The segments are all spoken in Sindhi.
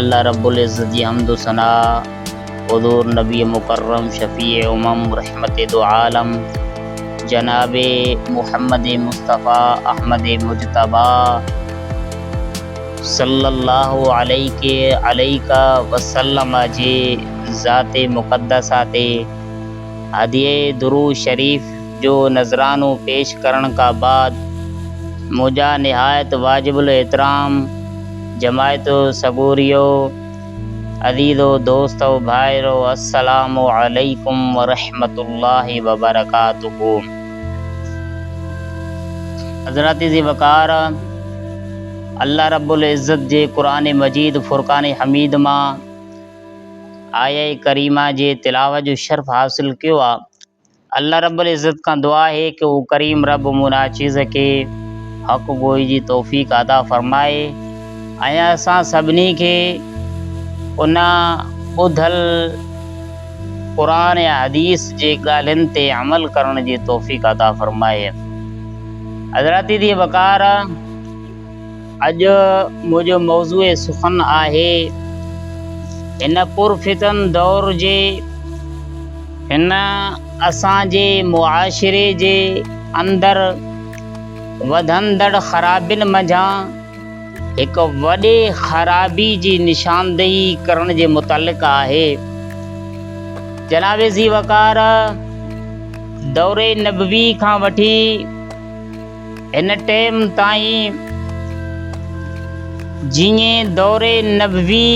الله رب العزت جي حمد و ثنا حضور نبي مڪرم شفيع امم رحمت دوعالم جناب محمد مصطفي احمد مجتبيٰ صلّي الله عليڪ عليڪ وسلّم جي ذات مقدّسه تي هديه درود شريف جو نذرانو پيش ڪرڻ کان بعد منهنجا نهايت واجب الاحترام جماعت سڳوريو، عزيزو دوستو ڀائرو السلام عليڪم ورحمة الله وبرڪاته حضرات عزيز وقار الله رب العزت جي قرآن مجيد فرقان حميد مان آيه ڪريمه جي تلاوت جو شرف حاصل ڪيو آ. الله رب العزت کان دعا آهي ڪه هو ڪريم رب مون ناچيز کي حق گوئي جي توفيق عطا فرمائي ۽ اسان سڀني کي ان ٻڌل قرآن يا حديث جي ڳالهين تي عمل ڪرڻ جي توفيق عطا فرمائي. حضرات دي وقار اڄ منهنجو موضوع سخن آهي. هن پرفتن دور جي هن اسان جي معاشري جي اندر وڌندڙ خرابين منجهان هڪ وڏي خرابي جي نشاندهي ڪرڻ جي متعلق آهي. جناب ذي وقار دور نبوي کان وٺي هن ٽيم تائين جيئن دور نبوي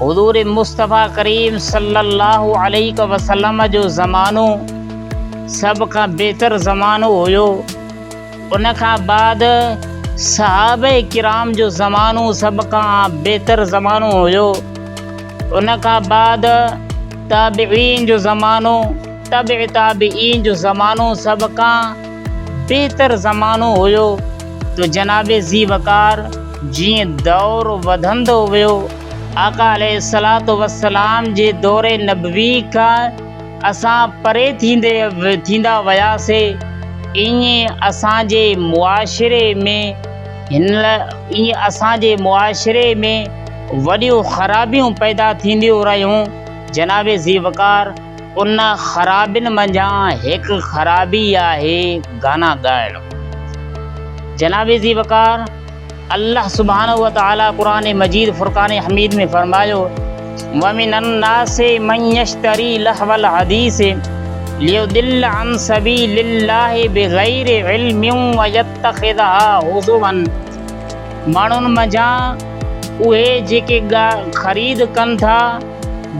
حضور مصطفيٰ ڪريم صلي الله عليه وسلم جو زمانو سڀ کان بهتر زمانو هيو ان کان بعد صحابه ڪرام جو زمانو سڀ کان بهتر زمانو هيو ان کان بعد تابعين جو زمانو تبع تابعين جو زمانو سڀ کان بهتر زمانو هيو ته جناب ذي وقار جيئن دور وڌندو ويو آقا عليه الصلوة والسلام جي دور نبوي کان اسان پري ٿيندي ٿيندا وياسي ائين اسان جي معاشري ۾ هن ائين اسان جي معاشري ۾ وڏيون خرابيون پيدا ٿينديون رهيون جناب ذي وقار ان خرابين منجهان هڪ خرابي آهي گانا ڳائڻ. جناب عزيز وقار الله سبحانه وتعالي قرآن مجيد فرقان حميد ۾ فرمايو ومن الناس من يشتري لهو الحديث ليضل عن سبيل الله بغير علم ويتخذها هزوا ماڻهن منجهان اهي جيڪي خريد ڪن ٿا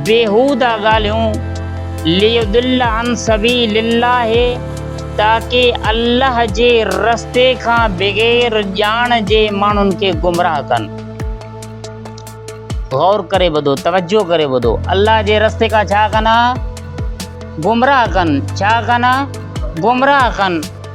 بيهوده ڳالهيون، ليضل عن سبيل الله، تاڪي الله جي رستي کان بغير ڄاڻ جي ماڻهن کي گمراهه ڪن. غور ڪري ٻڌو، توجه ڪري ٻڌو، الله جي رستي کان ڇا ڪن ها؟ گمراهه ڪن، ڇا ڪن ها؟ گمراهه ڪن.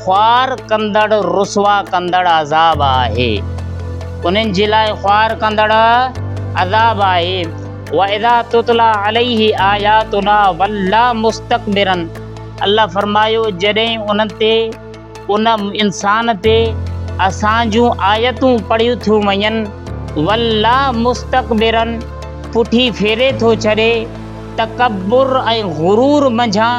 خوار ڪندڙ رسوا ڪندڙ عذاب آهي. انهن جي لاء خوار ڪندڙ عذاب آهي. واذا تتلي عليه آياتنا ولي مستڪبرا الله فرمايو جڏهن انهن تي، ان انسان تي، اسان جون آيتون پڙهيون ٿيون وڃن، ولي مستڪبرا پٺي ڦيري ٿو ڇڏي، تڪبر ۽ غرور منجهان،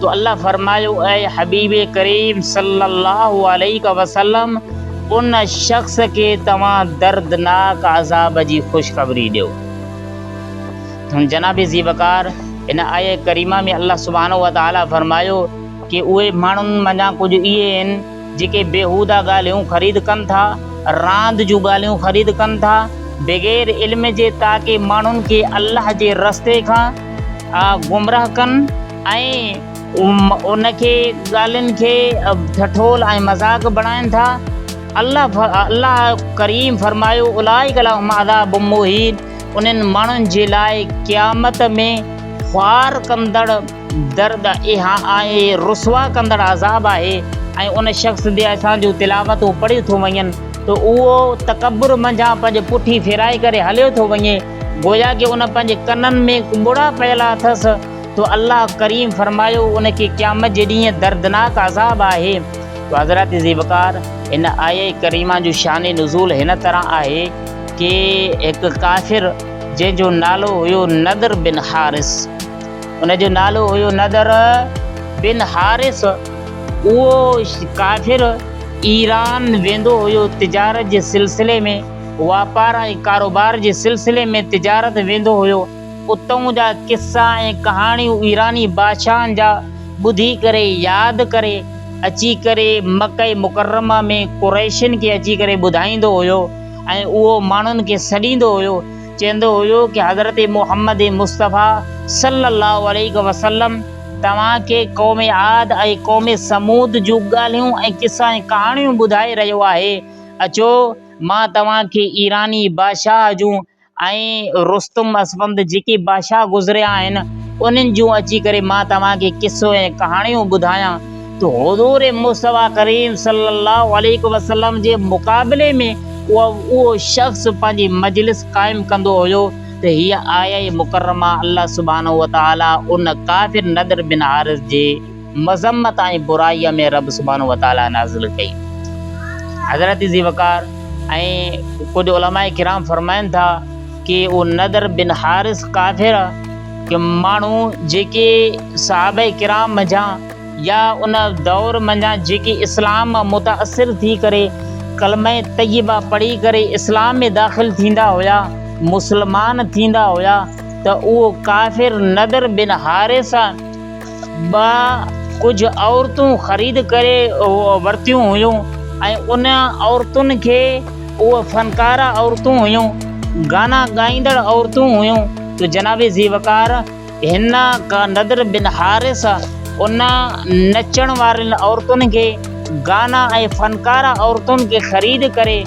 تو الله فرمايو اي حبيب ڪريم صلّي الله عليه وسلّم ان شخص کي توهان دردناڪ عذاب جي خوشخبري ڏيو ٿن جناب ذي وقار ان آيه ڪريمه ۾ الله سبحانه وتعالي فرمايو ڪي اهي ماڻهن منجان ڪجهه اهي آهن جيڪي بيهودا ڳالهيون خريد ڪن ٿا راند جون ڳالهيون خريد ڪن ٿا بغير علم جي تاڪي ماڻهن کي الله جي رستي کان گمراهه ڪن ۽ ان کي ڳالهين کي ٺٺول ۽ مذاق بڻائين ٿا الله ڪريم فرمايو اولئڪ لهم عذاب مهين انهن ماڻهن جي لاء قيامت ۾ خوار ڪندڙ درد ۽ رسوا ڪندڙ عذاب آهي ۽ ان شخص تي اسان جون تلاوتون پڙهيون ٿيون وڃن ته اهو تڪبر منجهان پنهنجي پٺي ڦيرائي ڪري هليو ٿو وڃي گويا ڪي ان پنهنجي ڪنن ۾ ڪٻڙا پيل اٿس تو الله ڪريم فرمايو ان کي قيامت جي ڏينهن دردناڪ عذاب آهي تو حضرت ذوالفقار هن آيه ڪريمه جو شان نزول هن طرح آهي ڪي هڪ ڪافر جنهن جو نالو هيو نضر بن حارث ان جو نالو هيو نضر بن حارث اهو ڪافر ايران ويندو هيو تجارت جي سلسلي ۾ واپار ۽ ڪاروبار جي سلسلي ۾ تجارت ويندو هيو اتئون جا قصا ۽ ڪهاڻيون ايراني بادشاهن جا ٻڌي ڪري ياد ڪري اچي ڪري مڪه مڪرمه ۾ قريشين کي اچي ڪري ٻڌائيندو هيو ۽ اهو ماڻهن کي سڏيندو هيو چيندو هيو ڪي حضرت محمد مصطفيٰ صلّي الله عليه وسلّم توهان کي قوم عاد ۽ قوم ثمود جون ڳالهيون ۽ قصا ۽ ڪهاڻيون ٻڌائي رهيو آهي اچو مان توهان کي ايراني بادشاهه جون ۽ رستم اسفند جيڪي بادشاهه گذريا آهن انهن جون اچي ڪري مان توهان کي قصو ۽ ڪهاڻيون ٻڌايان ته حضور مصطفيٰ ڪريم صلي الله عليه وسلم جي مقابلي ۾ اهو شخص پنهنجي مجلس قائم ڪندو هيو ته هيء آيه مڪرمه الله سبحانه وتعاليٰ ان ڪافر نضر بن حارث جي مذمت ۽ برائيء ۾ رب سبحانه وتعاليٰ نازل ڪئي. حضرت ذي وقار ۽ ڪجهه علماء ڪرام فرمائن ٿا ڪي اهو نضر بن حارث ڪافر ڪي ماڻهو جيڪي صحابه ڪرام منجهان يا ان دور منجهان جيڪي اسلام مان متاثر ٿي ڪري ڪلمه طيبه پڙهي ڪري اسلام ۾ داخل ٿيندا هيا مسلمان ٿيندا هيا ته اهو ڪافر نضر بن حارث ٻه ڪجهه عورتون خريد ڪري ورتيون هيون ۽ ان عورتن کي اهي فنڪاره عورتون هيون گانا ڳائيندڙ عورتون هيون جو جناب ذي وقار هن نضر بن حارث ان نچڻ وارين عورتن کي گانا ۽ فنڪاره عورتن کي خريد ڪري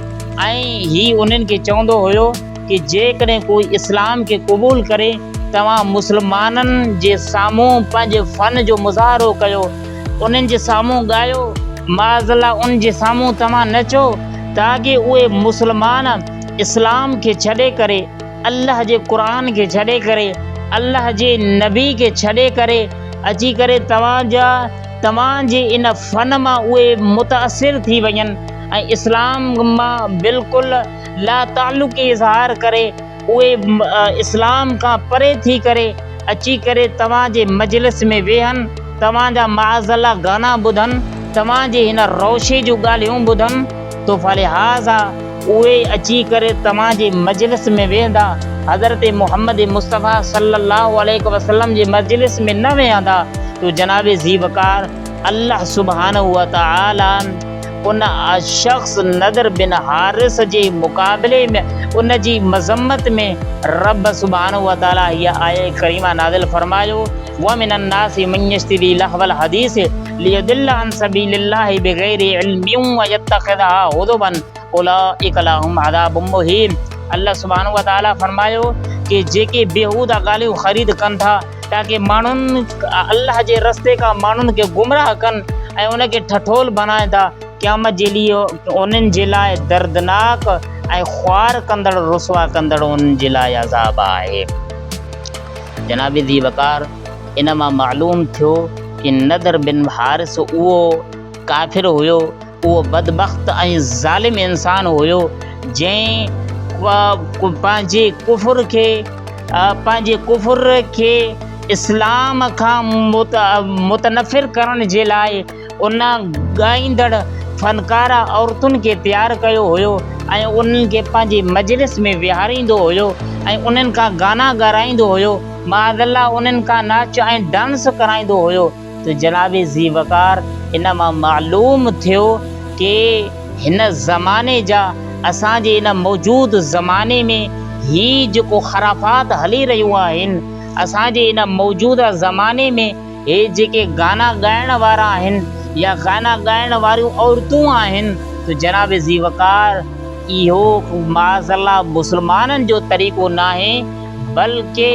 ۽ هي انهن کي چوندو هيو ڪي جيڪڏهن ڪو اسلام کي قبول ڪري توهان مسلمانن جي سامهون پنهنجي فن جو مظاهرو ڪيو انهن جي سامهون ڳايو معاذ الله ان جي سامهون توهان نچو تاڪي اهي مسلمان اسلام کي ڇڏي ڪري الله جي قرآن کي ڇڏي ڪري الله جي نبي کي ڇڏي ڪري اچي ڪري توهان جا توهان جي ان فن مان اهي متاثر ٿي وڃن ۽ اسلام مان بلڪل لاتعلقي اظهار ڪري اهي اسلام کان پري ٿي ڪري اچي ڪري توهان جي مجلس ۾ ويهن توهان جا معاذالله گانا ٻڌن توهان جي هن روشي جون ڳالهيون ٻڌن تو فلهٰذا اهي اچي ڪري توهان جي مجلس ۾ ويهندا حضرت محمد مصطفيٰ صلي الله عليه وسلم جي مجلس ۾ نه ويهندا تو جناب ذي وقار الله سبحانه وتعالٰي ان شخص نضر بن حارث جي مقابلي ۾ ان جي مذمت ۾ رب سبحانه وتعاليٰ هيء آيه ڪريمه نازل فرمايو، ومن الناس من يشتري لهو الحديث ليضل عن سبيل الله بغير علم ويتخذها هزوا اولئڪ لهم عذاب مهين الله سبحانه وتعاليٰ فرمايو ڪي جيڪي بيهوده ڳالهيون خريد ڪن ٿا، تاڪه ماڻهن الله جي رستي کان ماڻهن کي گمراهه ڪن ۽ ان کي ٺٺول بڻائين ٿا، قيامت جي ڏينهن انهن جي لاء دردناڪ ۽ خوار ڪندڙ رسوا ڪندڙ انهن جي لاء عذاب آهي. جناب ذي وقار ان مان معلوم ٿيو ته نضر بن حارث اهو ڪافر هيو اهو بدبخت ۽ ظالم انسان هيو جنهن پنهنجي ڪفر کي پنهنجي ڪفر کي اسلام کان متنفر ڪرڻ جي لاء ان ڳائيندڙ فنڪاره عورتن کي تيار ڪيو هيو ۽ انهن کي پنهنجي مجلس ۾ ويهاريندو هيو ۽ انهن کان گانا ڳارائيندو هيو معاذ الله انهن کان ناچ ۽ ڊانس ڪرائيندو هيو. ته جناب ذي وقار ان مان معلوم ٿيو ڪي هن زماني جا اسان جي ان موجود زماني ۾ هي جيڪو خرافات هلي رهيون آهن اسان جي ان موجوده زماني ۾ هي جيڪي گانا ڳائڻ وارا آهن يا گانا ڳائڻ واريون عورتون آهن ته جناب ذي وقار اهو معاذ الله مسلمانن جو طريقو ناهي بلڪه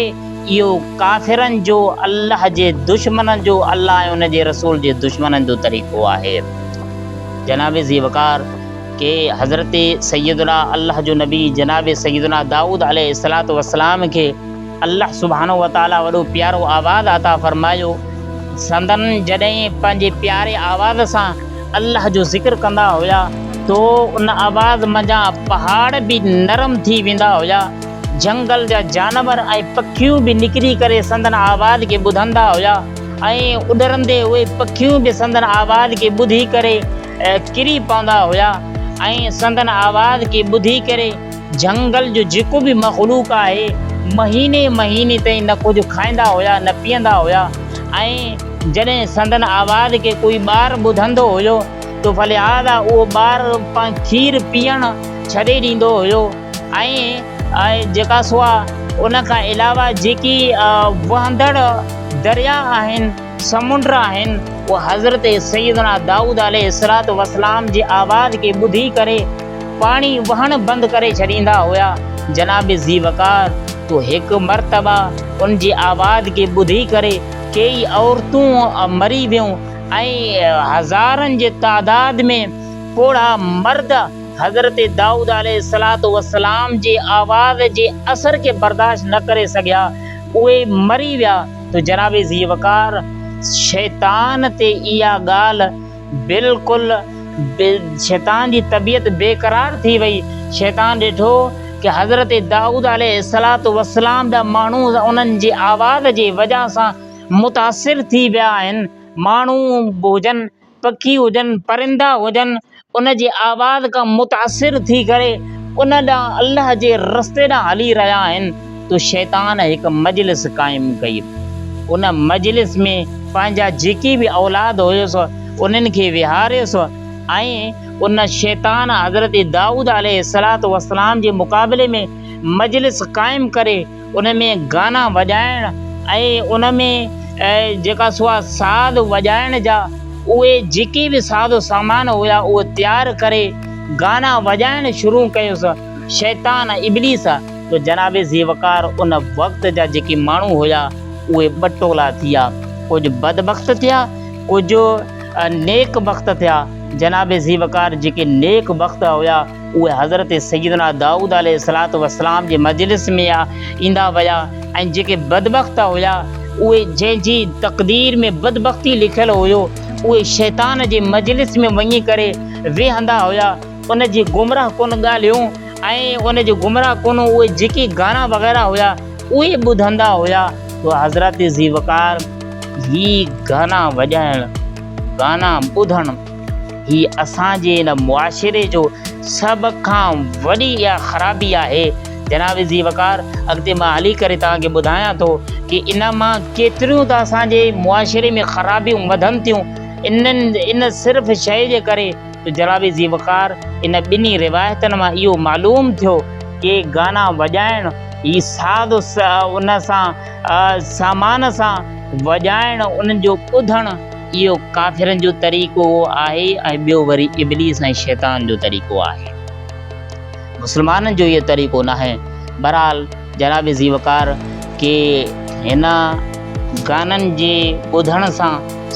اهو ڪافرن جو الله جي دشمنن جو الله ۽ ان جي رسول جي دشمنن جو طريقو آهي. جناب ذي وقار کي حضرت سيدنا الله جو نبي جناب سيدنا دائود عليه الصلوة والسلام کي الله سبحانه وتعالي وڏو پيارو آواز عطا فرمايو سندن جڏهن پنهنجي پياري آواز سان الله جو ذڪر ڪندا هيا تو ان آواز منجهان پهاڙ به نرم ٿي ويندا هيا. جهنگل جا جانور ۽ پکيون به نڪري ڪري سندن آواز کي ٻڌندا هيا ۽ اڏرندي اهي پکيون به سندن آواز کي ٻڌي ڪري ڪري پوندا هيا ۽ سندن آواز کي ٻڌي ڪري جهنگل جو جيڪو به مخلوق آهي مهيني مهيني تائين نه ڪجهه کائيندا هيا نه پيئندا هيا ۽ جڏهن سندن آواز کي ڪوئي ٻار ٻڌندو هيو ته فلهذا اهو ٻار کير پيئڻ ڇڏي ڏيندو هيو. ۽ آء جيڪا سوا ان کان علاوه جيڪي وهندڙ درياء آهن، سمنڊ آهن، اهي حضرت سيدنا دائود عليه الصلوة والسلام جي آواز کي ٻڌي ڪري پاڻي وهڻ بند ڪري ڇڏيندا هيا. جناب ذي وقار تو هڪ مرتبه ان جي آواز کي ٻڌي ڪري ڪيئي عورتون مري ويون ۽ هزارن جي تعداد ۾ پوڙها مرد حضرت دائود عليه الصلوة والسلام جي آواز جي اثر کي برداشت نه ڪري سگهيا، اهي مري ويا ته جناب ذي وقار شيطان تي اها ڳالهه بلڪل شيطان جي طبيعت بيقرار ٿي وئي، شيطان ڏٺو ته حضرت دائود عليه الصلوة والسلام جا ماڻهو انهن جي آواز جي وجهه سان متاثر ٿي ويا آهن، ماڻهو به هجن. پکي هجن، پرندا هجن، ان جي آواز کان متاثر ٿي ڪري ان ڏانهن الله جي رستي ڏانهن هلي رهيا آهن ته شيطان هڪ مجلس قائم ڪئي. ان مجلس ۾ پنهنجا جيڪي به اولاد هيس انهن کي ويهاريس ۽ ان شيطان حضرت دائود عليه السلام جي مقابلي ۾ مجلس قائم ڪري ان ۾ گانا وڄائڻ ۽ ان ۾ جيڪا سوا ساز وڄائڻ جا اهي جيڪي به ساز و سامان هيا اهو تيار ڪري گانا وڄائڻ شروع ڪيس. شيطان ابليس جو جناب ذيوقار ان وقت جا جيڪي ماڻهو هيا اهي ٻه ٽولا ٿيا ڪجهه بدبخت ٿيا ڪجهه نيڪ بخت ٿيا جناب ذيوقار جيڪي نيڪ بخت هيا. اهي حضرت سيدنا دائود عليه الصلوة والسلام جي مجلس ۾ ايندا ويا ۽ جيڪي بدبخت هيا اهي جنهن جي تقدير ۾ بدبختي لکيل هيو اهي شيطان جي مجلس ۾ وڃي ڪري ويهندا هيا ان جي گمراهه ڪن ڳالهيون ۽ ان جي گمراهه ڪن اهي جيڪي گانا وغيره هيا اهي ٻڌندا هيا. سو حضرت ذي وقار هي گانا وڄائڻ، گانا ٻڌڻ، هي اسان جي هن معاشري جو سڀ کان وڏي اها خرابي آهي جناب ذي وقار اڳتي مان هلي ڪري توهان کي ٻڌايان ٿو ڪي ان مان ڪيتريون ته اسان جي معاشري ۾ خرابيون وڌن ٿيون انهن ان صرف شيء جي ڪري ته جناب ذي وقار ان ٻنهي روايتن مان اهو معلوم ٿيو ڪي گانا وڄائڻ هي ساز ان سان سامان سان وڄائڻ انهن جو ٻڌڻ اهو ڪافرن جو طريقو آهي ۽ ٻيو وري ابليس ۽ شيطان جو طريقو آهي. مسلمانن جو اهو طريقو ناهي. بهرحال جناب ذي وقار کي هن گانن جي ٻڌڻ سان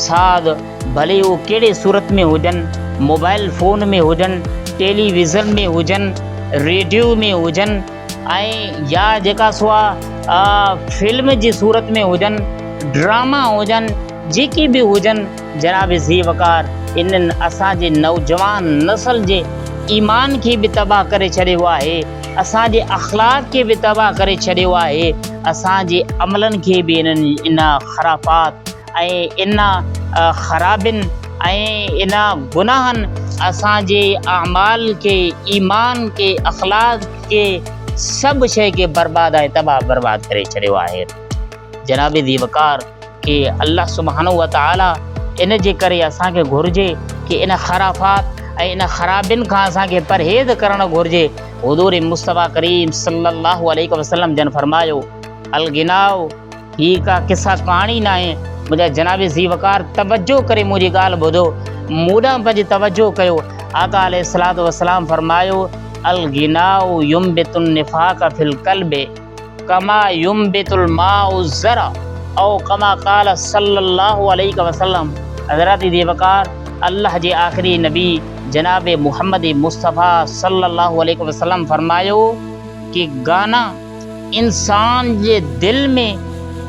ساعد ڀلي هو ڪهڙي صورت ۾ هجن، موبائل فون ۾ هجن، ٽيلي ويزن ۾ هجن، ريڊيو ۾ هجن ۽ يا جيڪا سوا فلم جي صورت ۾ هجن، ڊراما هجن، جيڪي به هجن جناب ذي وقار انهن اسان جي نوجوان نسل جي ايمان کي به تباهه ڪري ڇڏيو آهي اسان جي اخلاق کي به تباهه ڪري ڇڏيو آهي اسان جي عملن کي به انهن ان خرافات ۽ ان خرابين ۽ ان گناهن اسان جي اعمال کي ايمان کي اخلاق کي سڀ شئي کي برباد ۽ تباهه برباد ڪري ڇڏيو آهي جناب ذي وقار ڪي الله سبحانه وتعالٰي ان جي ڪري اسان کي گهرجي ڪي ان خرافات ۽ ان خرابين کان اسان کي پرهيز ڪرڻ گهرجي حضور مصطفيٰ ڪريم صلّي الله عليه وسلّم جن فرمايو الغناء هي ڪا قصه ڪهاڻي ناهي منهنجا جناب ذي وقار توجه ڪري منهنجي ڳالهه ٻڌو مون ڏانهن پنهنجي توجه ڪيو آقا عليه الصلوة والسلام فرمايو الغناء ينبت النفاق في القلب ڪما ينبت الماء الزرع او ڪما قال صلّي اللّٰه عليه وسلّم حضرت ذي وقار الله جي آخري نبي جناب محمد مصطفٰي صلّي اللّٰه عليه وسلّم فرمايو ڪي گانا انسان جي دل ۾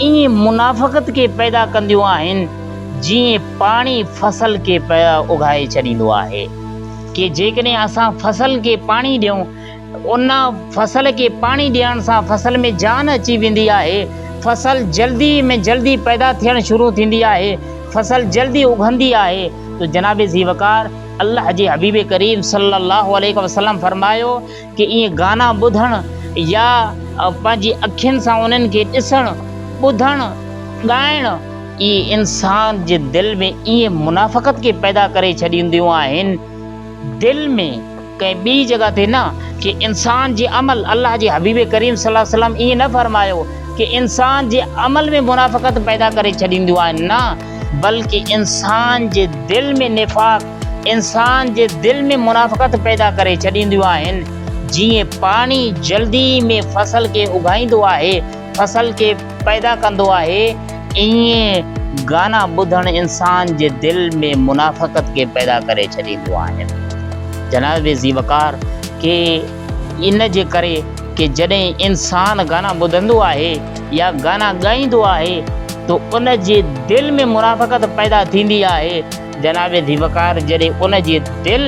ايئن منافقت کي پيدا ڪنديون آهن جيئن پاڻي فصل کي اگهائي ڇڏيندو آهي ڪي جيڪڏهن اسان فصل کي پاڻي ڏيون ان فصل کي پاڻي ڏيڻ سان فصل ۾ جان اچي ويندي آهي، فصل جلدي ۾ جلدي پيدا ٿيڻ شروع ٿيندي آهي، فصل جلدي اگهندي آهي ته جناب ذيوقار الله جي حبيب ڪريم صلي الله عليه وسلم فرمايو ته ايئن گانا ٻڌڻ يا پنهنجي اکين سان انهن کي ڏسڻ، ٻڌڻ، ڳائڻ اهي انسان جي دل ۾ ايئن منافقت کي پيدا ڪري ڇڏينديون آهن، دل ۾ ڪنهن ٻي جڳهه تي نه ڪي انسان جي عمل الله جي حبيب ڪريم صلي الله عليه وسلم ائين نه فرمايو ڪي انسان جي عمل ۾ منافقت پيدا ڪري ڇڏينديون آهن نه بلڪ انسان جي دل ۾ نفاق انسان جي دل ۾ منافقت پيدا ڪري ڇڏينديون آهن جيئن پاڻي جلدي ۾ فصل کي اگهائيندو آهي فصل کي پيدا ڪندو آهي، ائين گانا ٻڌڻ انسان جي دل ۾ منافقت کي پيدا ڪري ڇڏينديون آهن. جناب ذي وقار کي ان جي ڪري ڪي جڏهن انسان گانا ٻڌندو آهي يا گانا ڳائيندو آهي ته ان جي دل ۾ منافقت پيدا ٿيندي آهي، جناب ذي وقار جڏهن ان جي دل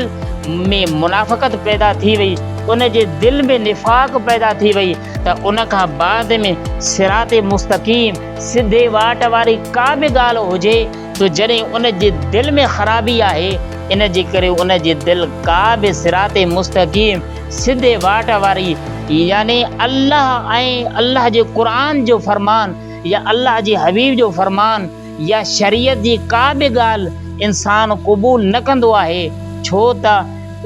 ۾ منافقت پيدا ٿي وئي، ان جي دل ۾ نفاق پيدا ٿي وئي ته ان کان بعد ۾ صراط مستقيم، سڌي واٽ واري ڪا به ڳالهه هجي ته جڏهن ان جي دل ۾ خرابي آهي ان جي ڪري ان جي دل ڪا به صراط مستقيم، سڌي واٽ واري يعني الله ۽ الله جي قرآن جو فرمان يا الله جي حبيب جو فرمان، يا شريعت جي ڪا به ڳالهه انسان قبول نه ڪندو آهي ڇو ته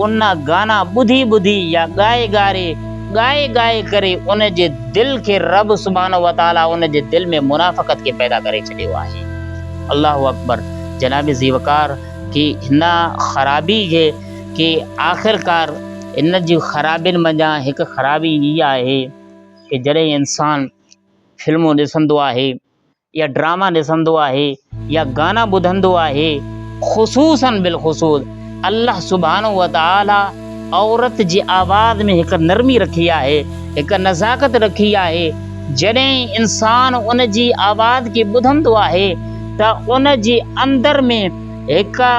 ان گانا ٻڌي ٻڌي يا ڳائي ڳاري ڳائي ڳائي ڪري ان جي دل کي رب سبحانه وتعالي ان جي دل ۾ منافقت کي پيدا ڪري ڇڏيو آهي الله اڪبر جناب زي وقار ڪي هن خرابي کي ڪي آخر ڪار ان جي خرابين منجهان هڪ خرابي هي آهي ڪي جڏهن انسان فلمون ڏسندو آهي يا ڊراما ڏسندو آهي يا گانا ٻڌندو آهي خصوصا بالخصوص الله سبحانه وتعالي عورت جي آواز ۾ هڪ نرمي رکي آهي هڪ نزاڪت رکي آهي جڏهن انسان ان جي آواز کي ٻڌندو آهي ته ان جي اندر ۾ هڪ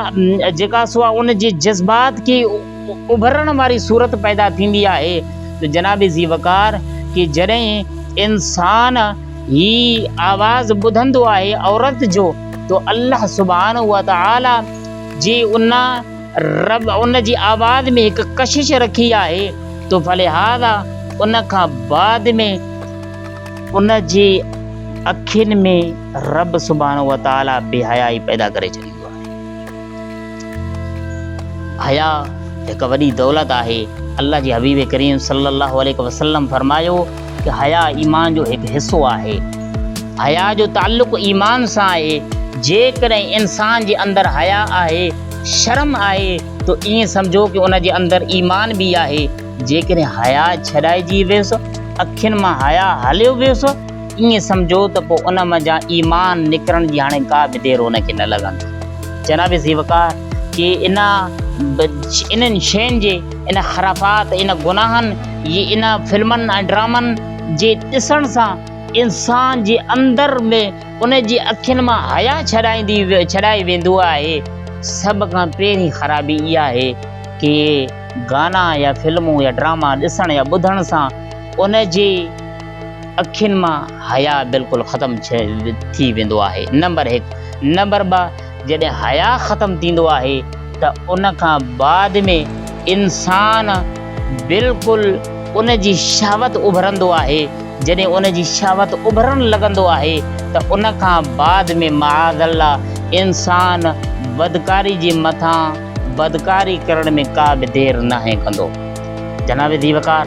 جيڪا سو ان جي جذبات کي اڀرڻ واري صورت پيدا ٿيندي آهي ته جناب ذي وقار ڪي جڏهن انسان هي آواز ٻڌندو آهي عورت جو ته الله سبحانه وتعاليٰ جي ان رب ان جي آواز ۾ هڪ ڪشش رکي آهي ته فلهذا ان کان بعد ۾ ان جي اکين ۾ رب سبحانه وتعاليٰ بي حيائي پيدا ڪري ڇڏي. ٿيندو آهي. حياء هڪ وڏي دولت آهي، الله جي حبيب ڪريم صلي الله عليه وسلم فرمايو ته حياء ايمان جو هڪ حصو آهي. حياء جو تعلق ايمان سان آهي، جيڪڏهن انسان جي اندر حياء آهي، شرم آهي ته ائين سمجهو ته ان جي اندر ايمان به آهي، جيڪڏهن حياء ڇڏائجي ويس، اکين مان حياء هليو ويس، ائين سمجهو ته پوء ان منجهان ايمان نڪرڻ جي هاڻي ڪا به دير هن کي نه لڳندي. جناب ذيوالقار جي ان انهن شين جي، ان خرافات، ان گناهن جي، ان فلمن ۽ ڊرامن جي ڏسڻ سان انسان جي اندر ۾ ان جي اکين مان حياء ڇڏائي ويندو آهي. سڀ کان پهرين خرابي اها آهي ڪي گانا يا فلمون يا ڊراما ڏسڻ يا ٻڌڻ سان ان جي. اکين مان حياء بلڪل ختم ٿي ويندو آهي نمبر هڪ نمبر ٻه جڏهن حياء ختم ٿيندو آهي ته ان کان بعد ۾ انسان بلڪل ان جي شهوت اڀرندو آهي جڏهن ان جي شهوت اڀرڻ لڳندو آهي ته ان کان بعد ۾ معاذ الله انسان بدڪاري جي مٿان بدڪاري ڪرڻ ۾ ڪا به دير ناهي ڪندو جناب ذي وقار.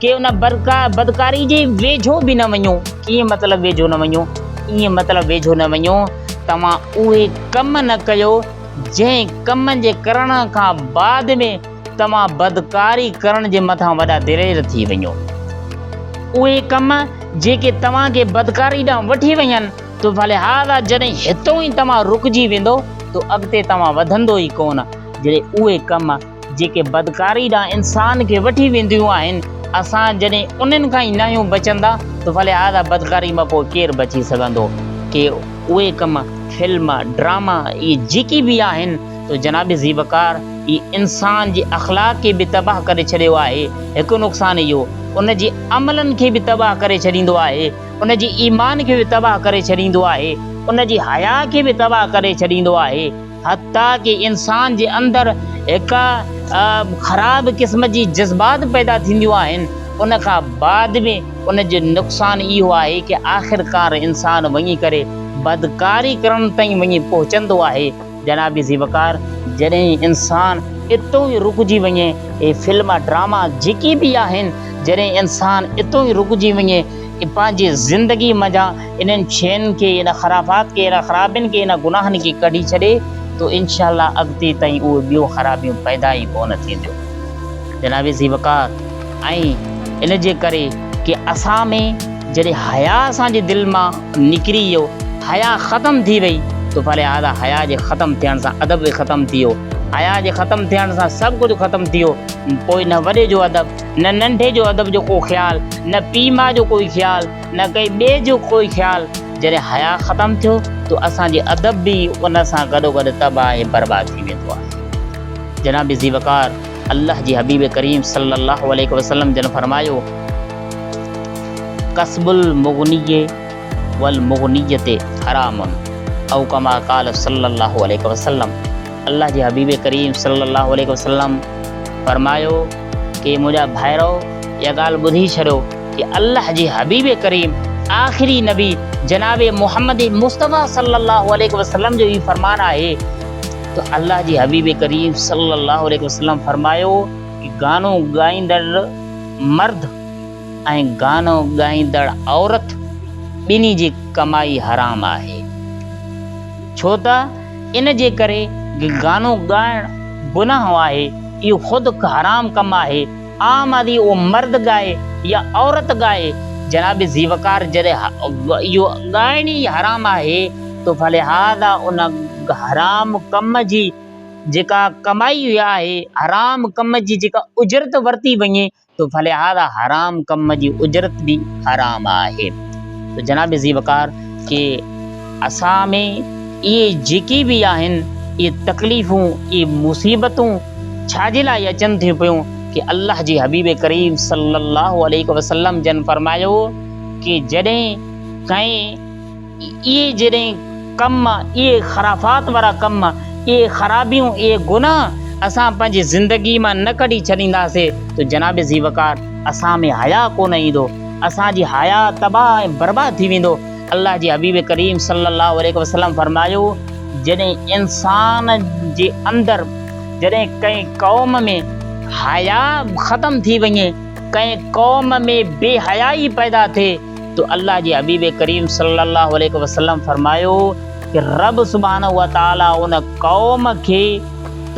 ڪي ان بدڪاري جي ويجهو به نه وڃو. ڪيئن مطلب ويجهو نه وڃو؟ ائين مطلب ويجهو نه وڃو، توهان اهي ڪم نه ڪيو، جنهن ڪم جي ڪرڻ کان بعد ۾ توهان بدڪاري ڪرڻ جي مٿان وڏا دلير ٿي وڃو. اهي ڪم جيڪي توهان کي بدڪاري ڏانهن وٺي وڃن ٿو، فلهذا جڏهن هتون ئي توهان رڪجي ويندو ته اڳتي توهان وڌندو ئي ڪونه، جڏهن اهي ڪم جيڪي بدڪاري ڏانهن انسان کي وٺي وينديون آهن، اسان جڏهن انهن کان ئي ناهيون بچندا ته فلهذا بدڪاري مان پوء ڪير بچي سگهندو؟ ڪي اهي ڪم، فلم، ڊراما اهي جيڪي به آهن تو جناب زيبڪار اهي انسان جي اخلاق کي به تباهه ڪري ڇڏيو آهي، هڪ نقصان اهو ان جي عملن کي به تباهه ڪري ڇڏيندو آهي، ان جي ايمان کي به تباهه ڪري ڇڏيندو آهي، ان جي حياء کي به تباهه ڪري ڇڏيندو آهي. حتيٰ ڪي انسان جي اندر هڪ خراب قسم جي جذبات پيدا ٿينديون آهن ان کان بعد به ان جو نقصان اهو آهي ڪي آخرڪار انسان وڃي ڪري بدڪاري ڪرڻ تائين وڃي پهچندو آهي جناب ذي وقار جڏهن انسان اتو ئي رڪجي وڃي هي فلم ڊراما جيڪي به آهن جڏهن انسان اتو ئي رڪجي وڃي پنهنجي زندگي منجهان. انهن شين کي، ان خرافات کي، انهن خرابين کي، انهن گناهن کي ڪڍي ڇڏي تو انشاء الله اڳتي تائين اهي ٻيون خرابيون پيدا ئي ڪونه ٿينديون جناب ذي وقار ۽ ان جي ڪري ڪي اسان ۾ جڏهن حياء اسان جي دل مان نڪري ويو حياء ختم ٿي وئي تو فلهذا حياء جي ختم ٿيڻ سان ادب به ختم ٿي ويو حياء جي ختم ٿيڻ سان سڀ ڪجهه ختم ٿي ويو پوء نه وڏي جو ادب نه ننڍي جو ادب جو ڪو خيال نه پيء ماء جو ڪوئي خيال نه ڪنهن ٻئي جو ڪوئي خيال، جڏهن حياء ختم ٿيو ته اسان جي ادب به ان سان گڏوگڏ تباهه ۽ برباد ٿي ويندو آهي. جناب ذي وقار الله جي حبيب ڪريم صلي الله عليه وسلم جن فرمايو، کسب المغنيء والمغنية حرام او ڪما قال صلي الله عليه وسلم الله جي حبيب ڪريم صلي الله عليه وسلم فرمايو ڪي منهنجا ڀائرؤ اها ڳالهه ٻڌي ڇڏيو ته الله جي حبيب ڪريم آخري نبي جناب محمد مصطفيٰ صلّي اللّٰه عليه وسلّم جو هي فرمان آهي ته الله جي حبيب ڪريم صلّي اللّٰه عليه وسلّم فرمايو ته گانو ڳائيندڙ مرد ۽ گانو ڳائيندڙ عورت ٻنهي جي ڪمائي حرام آهي ڇو ته ان جي ڪري گانو ڳائڻ گناهه آهي اهو خود حرام ڪم آهي. عام آدي اهو مرد ڳائي يا عورت ڳائي جناب زيوڪار جڏهن اهو ڳائڻ ئي حرام آهي ته فلهذا ان حرام ڪم جي جيڪا ڪمائي آهي حرام ڪم جي جيڪا اجرت ورتي وڃي ته فلهذا حرام ڪم جي اجرت به حرام آهي ته جناب زيوڪار کي اسان ۾ اهي جيڪي به آهن اهي تڪليفون اهي مصيبتون ڇا جي لاء اچن ٿيون پيون ڪي الله جي حبيب ڪريم صلي الله عليه وسلم جن فرمايو ڪي جڏهن ڪنهن اهي جڏهن ڪم اهي خرافات وارا ڪم اهي خرابيون اهي گناهه اسان پنهنجي زندگي مان نه ڪڍي ڇڏينداسي ته جناب ذي وقار اسان ۾ حياء ڪونه ايندو اسان جي حياء تباهه ۽ برباد ٿي ويندو. الله جي حبيب ڪريم صلّي اللّٰه عليه وسلّم فرمايو، جڏهن انسان جي اندر جڏهن ڪنهن قوم ۾ حياء ختم ٿي وڃي، ڪنهن قوم ۾ بي حيائي پيدا ٿئي ته الله جي حبيب ڪريم صلّي اللّٰه عليه وسلّم فرمايو ته رب سبحانه وتعاليٰ ان قوم کي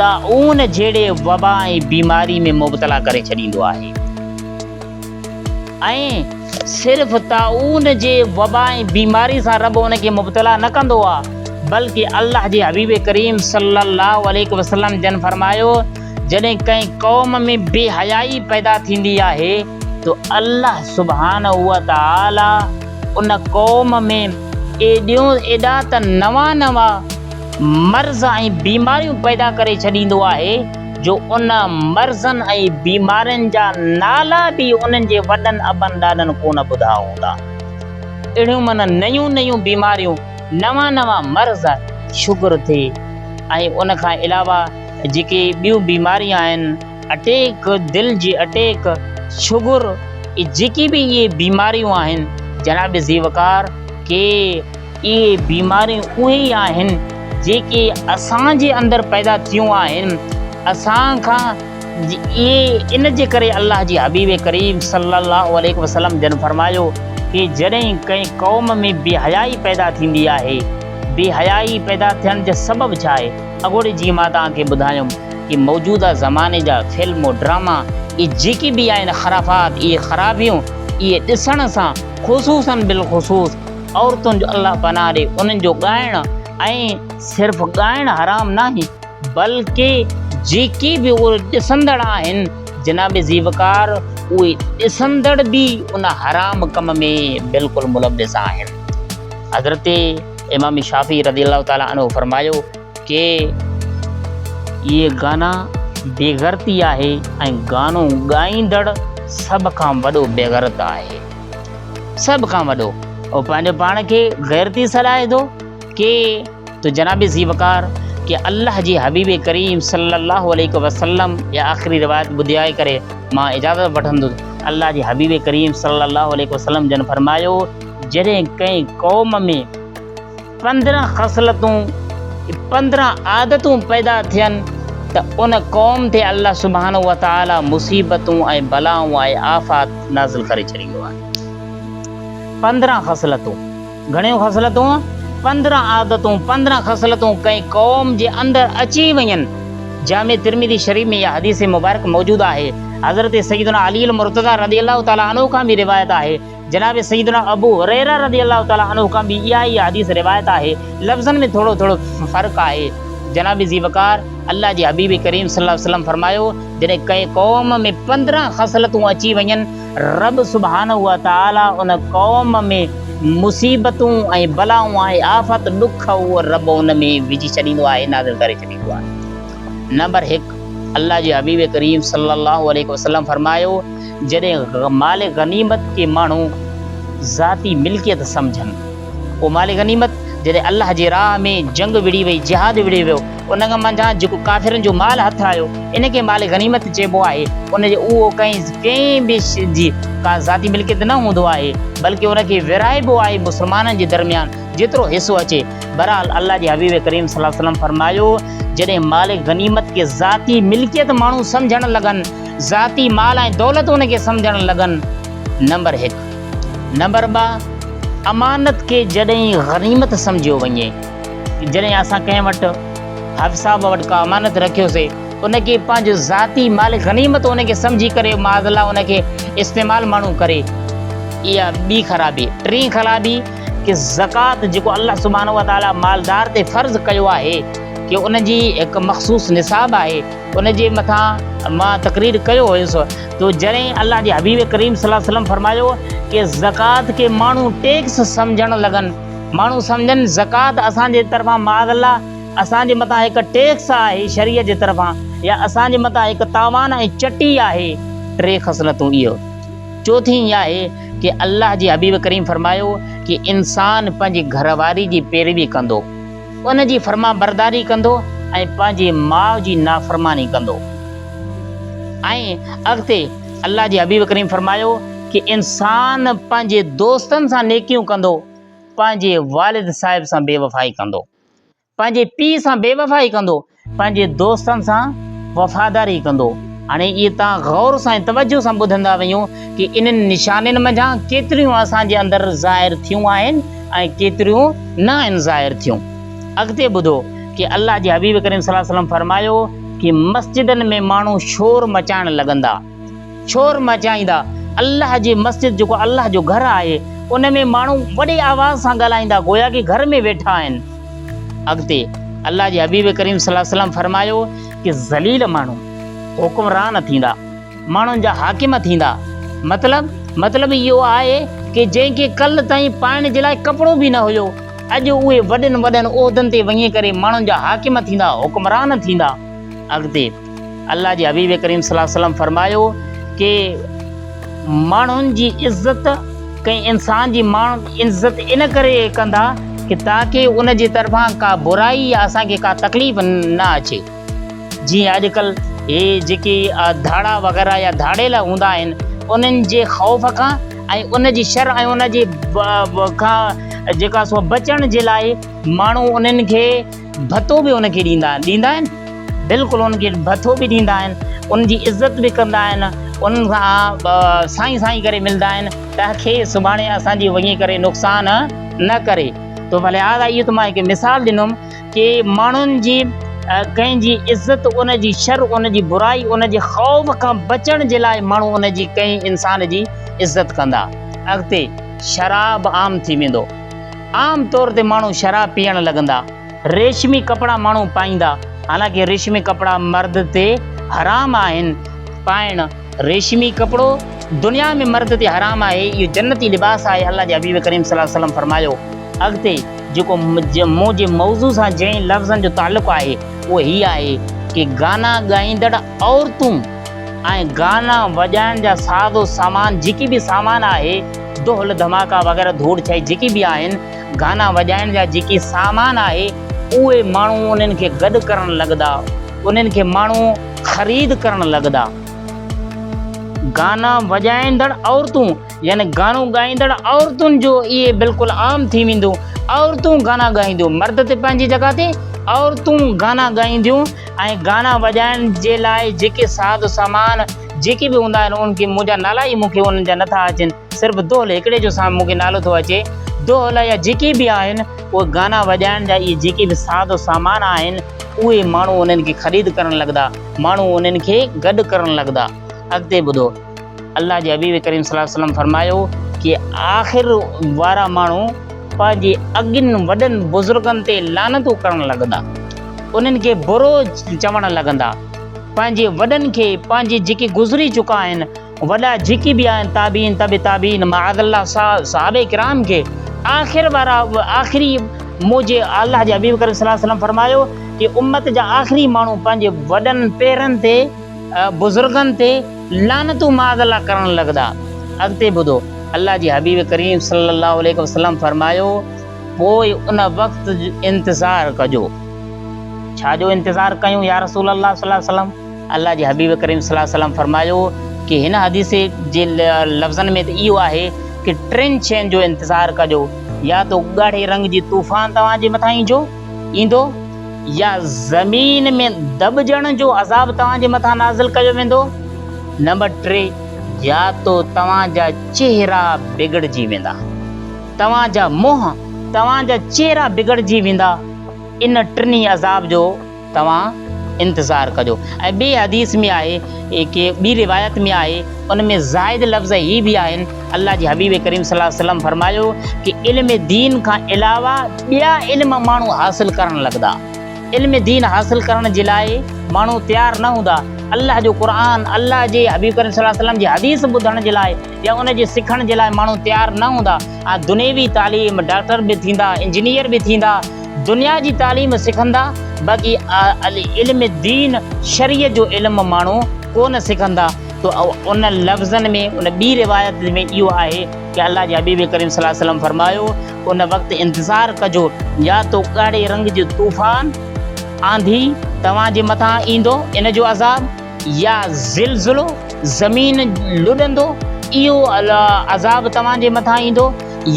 طاعون جهڙي وبا ۽ بيماري ۾ مبتلا ڪري ڇڏيندو آهي. ۽ صرف طاعون جي وبا ۽ بيماري سان رب ان کي مبتلا نه ڪندو آهي بلڪه الله جي حبيب ڪريم صلّي الله عليه وسلّم جن فرمايو جڏهن ڪنهن قوم ۾ بي حيائي پيدا ٿيندي آهي ته الله سبحانه وتعالٰي ان قوم ۾ ايڏيون ايڏا ته نوان نوان مرض ۽ بيماريون پيدا ڪري ڇڏيندو آهي جو ان مرضن ۽ بيمارين جا نالا به انهن جي وڏن ابن ڏاڏن ڪونه ٻڌا هوندا. اهڙيون من نيون نيون بيماريون نوان نوان مرض شگر ٿي ۽ ان کان علاوه جيڪي ٻيون بيماريون آهن اٽيڪ دل جي اٽيڪ شگر جيڪي به اهي بيماريون آهن جناب ذي وقار ڪي اهي بيماريون اهي ئي آهن جيڪي اسان جي اندر پيدا ٿيون آهن اسان کان اهي ان جي ڪري الله جي حبيب ڪريم صلي الله عليه وسلم جن فرمايو ڪي جڏهن ڪنهن قوم ۾ بي حيائي پيدا ٿيندي آهي بي حيائي پيدا ٿيڻ جا سبب ڇا آهي اڳوڻي جيئن مان توهان کي ٻڌايم ڪي موجوده زماني جا فلم ڊراما اهي جيڪي به آهن خرافات اهي خرابيون اهي ڏسڻ سان خصوصن بالخصوص عورتن جو الله پناهه ڏي انهن جو ڳائڻ ۽ صرف ڳائڻ حرام ناهي بلڪه جيڪي به اهي ڏسندڙ آهن جناب زي وقار اهي ڏسندڙ به ان حرام ڪم ۾ بلڪل ملوث آهن حضرت امام شافي رضي الله تعالي عنه فرمايو ڪي اهي گانا بيغرتي آهي ۽ گانو ڳائيندڙ سڀ کان وڏو بيغرت آهي سڀ کان وڏو او پنهنجو پاڻ کي غيرتي سڏائي ٿو ڪي تو جناب ذي وقار ڪي الله جي حبيب ڪريم صلي الله عليه وسلم جي آخري روايت ٻڌائي ڪري مان اجازت وٺندس الله جي حبيب ڪريم صلي الله عليه وسلم جن فرمايو جڏهن ڪنهن قوم ۾ پندرهن خصلتون، پندرهن عادتون پيدا ٿين ته ان قوم تي الله سبحانه وتعالي مصيبتون ۽ بلائون ۽ آفات نازل ڪري ڇڏيندو آهي. پندرهن خصلتون، گهڻيون خصلتون، پندرهن عادتون، پندرهن خصلتون ڪنهن قوم جي اندر اچي وڃن، جامع ترمذي شريف ۾ اها حديث مبارڪ موجود آهي، حضرت سيدنا علي المرتضيٰ رضي الله تعالٰي عنه کان به روايت آهي، جناب سيدنا ابو هريره رضي الله تعالٰي عنه کان به اها ئي حديث روايت آهي، لفظن ۾ ٿورو ٿورو فرق آهي. جناب ذي وقار، الله جي حبيب ڪريم صلي الله عليه وسلم فرمايو، جڏهن ڪنهن قوم ۾ پندرهن خصلتون اچي وڃن، رب سبحانه وتعالٰي ان قوم ۾ مصيبتون ۽ بلائون ۽ آفت، ڏک، اهي رب ان ۾ وجهي ڇڏيندو آهي، نازل ڪري ڇڏيندو آهي. نمبر هڪ، الله جي حبيب ڪريم صلي الله عليه وسلم فرمايو، جڏهن مال غنيمت کي ماڻهو ذاتي ملڪيت سمجهن، اهو مال غنيمت جڏهن الله جي راهه ۾ جنگ وڙهي وئي، جهاد وڙهي ويو، ان کان منجهان جيڪو ڪافرن جو مال هٿ آيو، ان کي مال غنيمت چئبو آهي، ان جو اهو ڪنهن به شخص جي ڪا ذاتي ملڪيت نه هوندو آهي، بلڪ ان کي ورهائبو آهي مسلمانن جي درميان جيترو حصو اچي، بهرحال الله جي حبيب ڪريم صلي الله عليه وسلم فرمايو، جڏهن مال غنيمت کي ذاتي ملڪيت ماڻهو سمجهڻ لڳن، ذاتي مال ۽ دولت ان کي سمجهڻ لڳن، نمبر هڪ. نمبر ٻه، امانت کي جڏهن غنيمت سمجهيو وڃي، جڏهن اسان ڪنهن وٽ حاف صاحب وٽ ڪا امانت رکيوسي، ان کي پنهنجو ذاتي مال غنيمت ان کي سمجهي ڪري معاذ الله ان کي استعمال ماڻهو ڪري، اها ٻي خرابي. ٽين خرابي ته زڪوات جيڪو الله سبحانه وتعاليٰ مالدار تي فرض ڪيو آهي، ڪي ان جي هڪ مخصوص نصاب آهي، ان جي مٿان مان تقرير ڪيو هيس تو جڏهن الله جي حبيب ڪريم صلي الله عليه وسلم فرمايو ڪي زڪوات کي ماڻهو ٽيڪس سمجهڻ لڳن ماڻهو سمجهن زڪوات اسان جي طرفان معاذ الله اسان جي مٿان هڪ ٽيڪس آهي شريعت جي طرفان يا اسان جي مٿان هڪ تاوان ۽ چٽي آهي ٽي خصلتون اهو چوٿين اها آهي ڪي الله جي حبيب ڪريم فرمايو ڪي انسان پنهنجي گهر واري جي پيروي ڪندو ان جي فرمانبرداري ڪندو ۽ پنهنجي ماء جي نافرماني ڪندو ۽ اڳتي الله جي حبيب ڪريم فرمايو ڪي انسان پنهنجي دوستن سان نيڪيون ڪندو پنهنجي والد صاحب سان بيوفائي ڪندو پنهنجي پيء سان بيوفائي ڪندو پنهنجي دوستن سان وفاداري ڪندو. هاڻي اهي تان غور سان ۽ توجه سان ٻڌندا وڃو ڪي انهن نشانين منجهان ڪيتريون اسان جي اندر ظاهر ٿيون آهن ۽ ڪيتريون نه آهن ظاهر ٿيون. اڳتي ٻڌو ڪي الله جي حبيب ڪريم صلي الله عليه وسلم فرمايو ڪي مسجدن ۾ ماڻهو شور مچائڻ لڳندا. شور مچائيندا، الله جي مسجد جيڪو الله جو گهر آهي ان ۾ ماڻهو وڏي آواز سان ڳالهائيندا گويا ڪي گهر ۾ ويٺا آهن. اڳتي الله جي حبيب ڪريم صلي وسلم فرمايو ڪي ذليل ماڻهو حڪمران ٿيندا، ماڻهن جا حاڪم ٿيندا، مطلب مطلب اهو آهي ڪي جنهن کي ڪل تائين پائڻ جي لاء ڪپڙو به نه هيو اڄ اهي وڏن وڏن عهدن تي وڃي ڪري ماڻهن جا حاڪم ٿيندا حڪمران ٿيندا. اڳتي. الله جي حبيب ڪريم صلي الله عليه وسلم فرمايو ڪي ماڻهن جي عزت ڪنهن انسان جي ماڻهن عزت ان ڪري ڪندا ڪي تاڪي ان جي طرفان ڪا برائي يا اسان کي ڪا تڪليف نه اچي جي اڄ ڪل هي جيڪي ڌاڙا وغيرا يا ڌاڙيلا هوندا آهن انهن جي خوف کان ۽ ان جي شر ۽ ان جي کان جيڪا سو بچڻ جي لاء ماڻهو انهن کي ڀتو به ان کي ڏيندا آهن، ڏيندا آهن؟ بلڪل ان کي ڀتو به ڏيندا آهن، ان جي عزت به ڪندا آهن، ان سان سائين سائين ڪري ملدا آهن ته کي سڀاڻي اسان جي وڃي ڪري نقصان نه ڪري تو ولهذا اهو ته مان هڪ مثال ڏنم ڪي ماڻهن جي ڪنهن جي عزت ان جي شر ان جي برائي ان جي خوف کان بچڻ جي لاء ماڻهو ان جي ڪنهن انسان جي عزت ڪندا اڳتي شراب عام ٿي ويندو. عام طور تي ماڻهو شراب پيئڻ لڳندا. ريشمي ڪپڙا ماڻهو پائيندا. حالانڪه ريشمي ڪپڙا مرد تي حرام آهن. پائڻ ريشمي ڪپڙو دنيا ۾ مرد تي حرام آهي. اهو جنتي لباس آهي. الله جي حبيب ڪريم صلي الله عليه وسلم فرمايو. اڳتي جيڪو مون جي موضوع سان جنهن لفظن جو تعلق آهي اهو هي آهي ڪي گانا ڳائيندڙ عورتون ۽ گانا وڄائڻ جا ساز و سامان جيڪي به سامان آهي، دهل، ڌماڪا وغيره ڌوڙ ڇائي جيڪي به آهن، گانا وڄائڻ جا جيڪي سامان آهي، اهي ماڻهو انهن کي گڏ ڪرڻ لڳدا، انهن کي ماڻهو خريد ڪرڻ لڳدا. گانا وڄائيندڙ عورتون يعني گانو ڳائيندڙ عورتن جو اهي بلڪل عام ٿي ويندو، عورتون گانا ڳائينديون، مرد ته پنهنجي جڳهه تي، عورتون گانا ڳائينديون ۽ گانا وڄائڻ جي لاء جيڪي ساز سامان، جيڪي به هوندا آهن ان کي منهنجا نالا ئي مون کي انهن جا نٿا اچن صرف دهل هڪڙي جو سا مون کي نالو ٿو اچي دهل يا جيڪي به آهن اهي گانا وڄائڻ جا اهي جيڪي به ساز و سامان آهن اهي ماڻهو انهن کي خريد ڪرڻ لڳدا ماڻهو انهن کي گڏ ڪرڻ لڳدا اڳتي ٻڌو الله جي حبيب ڪريم صلي الله عليه وسلم فرمايو ڪي آخر وارا ماڻهو پنهنجي اڳين وڏن بزرگن تي لعنتون ڪرڻ لڳدا انهن کي برو چوڻ لڳندا پنهنجي وڏن کي پنهنجي جيڪي گذري چڪا آهن وڏا جيڪي به آهن تابعين تبع تابعين معاذ الله صحابه ڪرام کي آخر وارا آخري موجي الله جي حبيب ڪريم صلي الله عليه وسلم فرمايو ته امت جا آخري ماڻهو پنهنجي وڏن پيرن تي بزرگن تي لعنتون معاذ الله ڪرڻ لڳندا اڳتي ٻڌو الله جي حبيب ڪريم صلي الله عليه وسلم فرمايو پوء ان وقت جو انتظار ڪجو. ڇا جو انتظار ڪيون يا رسول الله صلي الله عليه وسلم؟ الله جي حبيب ڪريم صلي الله عليه وسلم فرمايو ڪي هن حديث جي لفظن ۾ ته اهو آهي ڪي ٽن شين جو انتظار ڪجو يا ته ڳاڙهي رنگ جي طوفان توهان جي مٿان ايندو ايندو يا زمين ۾ دٻجڻ جو عذاب توهان جي مٿان نازل ڪيو ويندو نمبر ٽي يا ته توهان جا چهرا بگڙجي ويندا. توهان جا منهن، توهان جا چهرا بگڙجي ويندا، ان ٽنهي عذاب جو توهان انتظار ڪجو. ۽ ٻي حديث ۾ آهي ڪي ٻي روايت ۾ آهي ان ۾ زائد لفظ هي به آهن، الله جي حبيب ڪريم صلي الله عليه وسلم فرمايو ڪي علم دين کان علاوه ٻيا علم ماڻهو حاصل ڪرڻ لڳندا، علم دين حاصل ڪرڻ جي لاء ماڻهو تيار نه هوندا، الله جو قرآن، الله جي حبيب ڪريم صلي الله عليه وسلم جي حديث ٻڌڻ جي لاء، يا ان جي سکڻ جي لاء ماڻهو تيار نه هوندا ها دنيوي تعليم ڊاڪٽر به ٿيندا انجنيئر به ٿيندا دنيا جي تعليم سکندا باقي علم دين شريع جو علم ماڻهو ڪونه سکندا تو ان لفظن ۾ ان ٻي روايت ۾ اهو آهي ته الله جي حبيب ڪريم صلي الله عليه وسلم فرمايو ان وقت انتظار ڪجو يا تو ڳاڙهي رنگ جو طوفان آنڌي توهان جي مٿان ايندو ان جو عذاب يا زلزلو، زمين لڏندو، اهو عذاب توهان جي مٿان ايندو،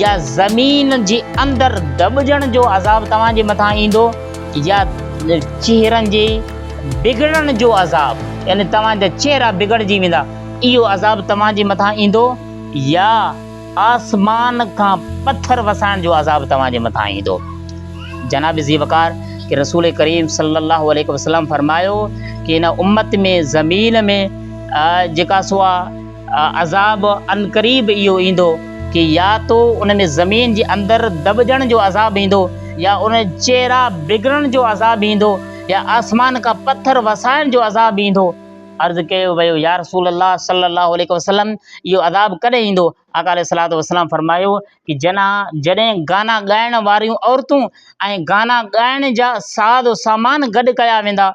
يا زمين جي اندر دٻجڻ جو عذاب توهان جي مٿان ايندو، يا چهرن جي بگڙڻ جو عذاب، يعني توهان جا چهرا بگڙجي ويندا، اهو عذاب توهان جي مٿان ايندو، يا. آسمان کان پٿر وسائڻ جو عذاب توهان جي مٿان ايندو. جناب ذي وقار کي رسول ڪريم صلي الله عليه وسلم فرمايو ته هن امت ۾ زمين ۾ جيڪا سو آهي عذاب عنقريب اهو ايندو ڪي يا تو ان ۾ زمين جي اندر دٻجڻ جو عذاب ايندو يا ان چهرا بگڙڻ جو عذاب ايندو يا آسمان کان پٿر وسائڻ جو عذاب ايندو. عرض ڪيو ويو، يا رسول الله صلّي الله عليه وسلّم! اهو عذاب ڪڏهن ايندو؟ آقا عليه الصلوة والسلام فرمايو ته جنان، جڏهن گانا ڳائڻ واريون عورتون ۽ گانا ڳائڻ جا ساز و سامان گڏ ڪيا ويندا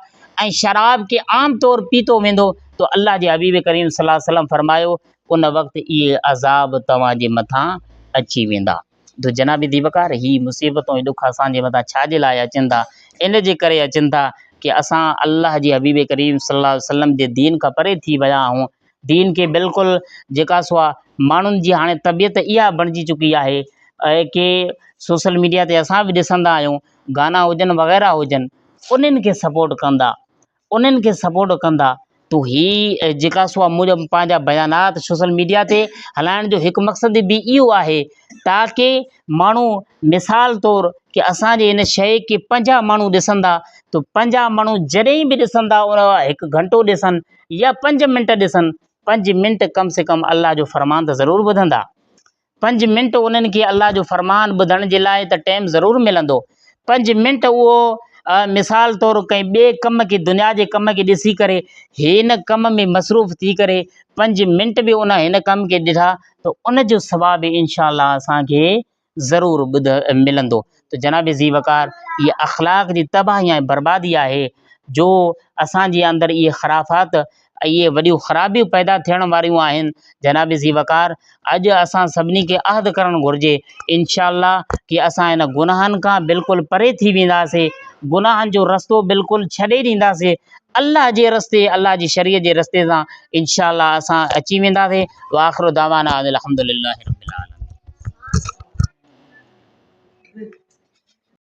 ۽ شراب کي عام طور پيتو ويندو ته الله جي حبيب ڪريم صلّي الله عليه وسلّم فرمايو، ان وقت اهي عذاب توهان جي مٿان اچي ويندا. ته جناب ديوڪار هي مصيبتون هي ڏک اسان جي مٿان ڇا جي لاء اچن ٿا؟ ان جي ڪري اچن ٿا ڪي اسان الله جي حبيب ڪريم صلي الله عليه وسلم جي دين کان پري ٿي ويا آهون. دين کي بلڪل جيڪا سو آ ماڻهن جي هاڻي طبيعت اها بڻجي چڪي آهي ڪي سوشل ميڊيا تي اسان به ڏسندا آهيون گانا هجن وغيره هجن انهن کي سپورٽ ڪندا انهن کي سپورٽ ڪندا تو هي جيڪا سو منهنجا پنهنجا بيانات سوشل ميڊيا تي هلائڻ جو هڪ مقصد به اهو آهي تاڪي ماڻهو مثال طور ڪي اسان جي هن شيء کي پنجاهه ماڻهو ڏسندا تو پنجاهه ماڻهو جڏهن به ڏسندا ان هڪ گهنٽو ڏسن يا پنج منٽ ڏسن پنج منٽ ڪم سي ڪم الله جو فرمان ته ضرور ٻڌندا پنج منٽ انهن کي الله جو فرمان ٻڌڻ جي لاء ته ٽيم ضرور ملندو. پنج منٽ اهو مثال طور ڪنهن ٻئي ڪم کي دنيا جي ڪم کي ڏسي ڪري هن ڪم ۾ مصروف ٿي ڪري پنج منٽ به ان هن ڪم کي ڏٺا ته ان جو ثواب انشاء الله اسان کي ضرور ٻڌ ملندو. ته جناب ذي وقار هي اخلاق جي تباهي ۽ بربادي آهي جو اسانجي اندر اهي خرافات اهي وڏيون خرابيون پيدا ٿيڻ واريون آهن جناب ذي وقار اڄ اسان سڀني کي عهد ڪرڻ گهرجي انشاء الله ڪي اسان هن گناهن کان بلڪل پري ٿي وينداسي گناهن جو رستو بلڪل ڇڏي ڏينداسي الله جي رستي الله جي شريعت جي رستي سان انشاء الله اسان اچي وينداسين واخر دعوانا ان الحمد لله رب العالمين.